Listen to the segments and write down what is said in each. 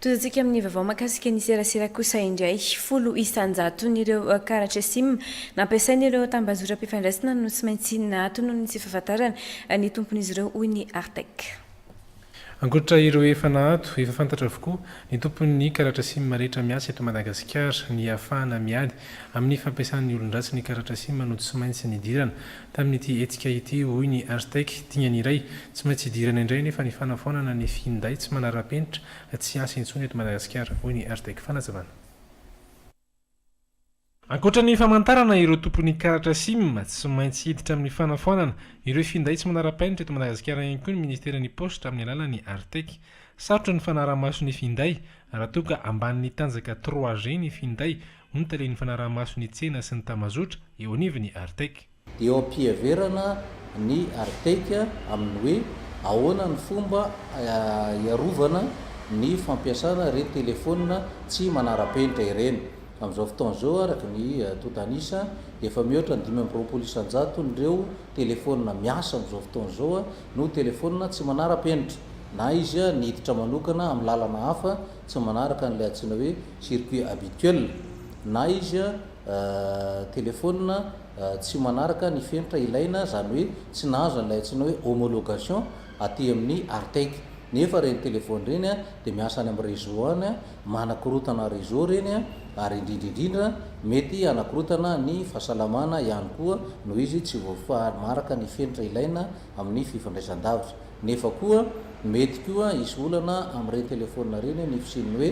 Tondratsika amin'ny vaovao mahakasika ny serasera kosa indray. Folo isan-jaton'ireo karatra sim nampiasain'ireo tambazotram-pifandraisana no tsy maintsy nahatonony sy fahafantarana ny tompon'izy ireo, hoy ny Artec. Ankoatra ireo efa naato, efa fantatra avokoa ny tompon'ny karatra sim rehetra miasa eto Madagasikara. Ny hahafahana miady amin'ny fampiasan'ny olon-dratsy ny karatra sim no tsy maintsy nidirana tamin'ity hetsika ity, hoy ny Artec. Dingana iray tsy maintsy idirana indray anefa ny fanafoanana ny finday tsy manara-penitra tsy hiasa intsony eto Madagasikara, hoy ny Artec. Fanazavana. Ankoatra ny famantarana ireo tompon'ny karatra sim, tsy maintsy hiditra amin'ny fanafoanana ireo finday tsy manara-penitra eto Madagasikara ihany koa ny Ministeran'ny Paositra amin'ny alalan'ny Artec. Sarotra ny fanarahamaso ny finday raha toa ka ambanin'ny tanjaka trois G ny finday, hoy ny talen'ny fanarahamaso ny tsena sy ny tambazotra eo anivon'ny Artec. Eo am-piheverana ny Artec amin'ny hoe ahoana ny fomba hiarovana ny fampiasana ireny telefaonina tsy manara-penitra ireny. Amin'izao fotoana izao, araka ny tontan'isa, dia efa mihoatra ny dimy amby roapolo isan-jaton'ireo telefaonina miasa amin'izao fotoana izao no telefaonina tsy manara-penitra, na izy niditra manokana amin'ny lalana hafa tsy manaraka an'ilay antsoina hoe circuit habituel, na izy. telefaonina tsy manaraka ny fenitra ilaina, izany hoe tsy nahazo an'ilay antsoina hoe homologation aty amin'ny Artec. Nefa ireny telefaony ireny dia miasa any amin'ny réseau any, manakorotana réseau ireny ary indrindra indrindra mety hanakorotana ny fahasalamana ihany koa noho izy tsy voafaraka ny fenitra ilaina amin'ny fifandraisan-davitra. Nefa koa mety koa hisy olana amin'ireny telefaonina ireny ny fisian'ny hoe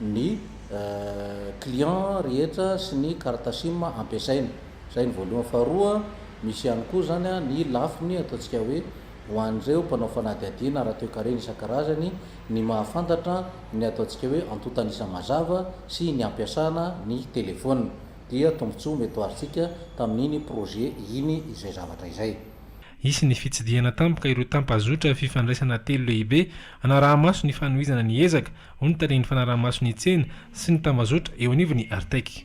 ny client rehetra sy ny carte sim ampiasaina. Izay ny voalohany. Faharoa, misy ihany koa izany ny lafiny ataontsika hoe ho an'ireo mpanao fanadihadiana ara-toekarena isan-karazany ny mahafantatra ny ataontsika hoe antontan'isa mazava sy ny ampiasana ny telefaonina dia tombontsoa mety ho azontsika tamin'iny projet iny izay zavatra izay. Hisy ny fitsidihana tampoka ireo tampazotra fifandraisana telo lehibe hanaraha-maso ny fanohizana ny ezaka hoy ny talen'ny fanaraha-maso ny tsena sy ny tambazotra eo anivon'ny Artec.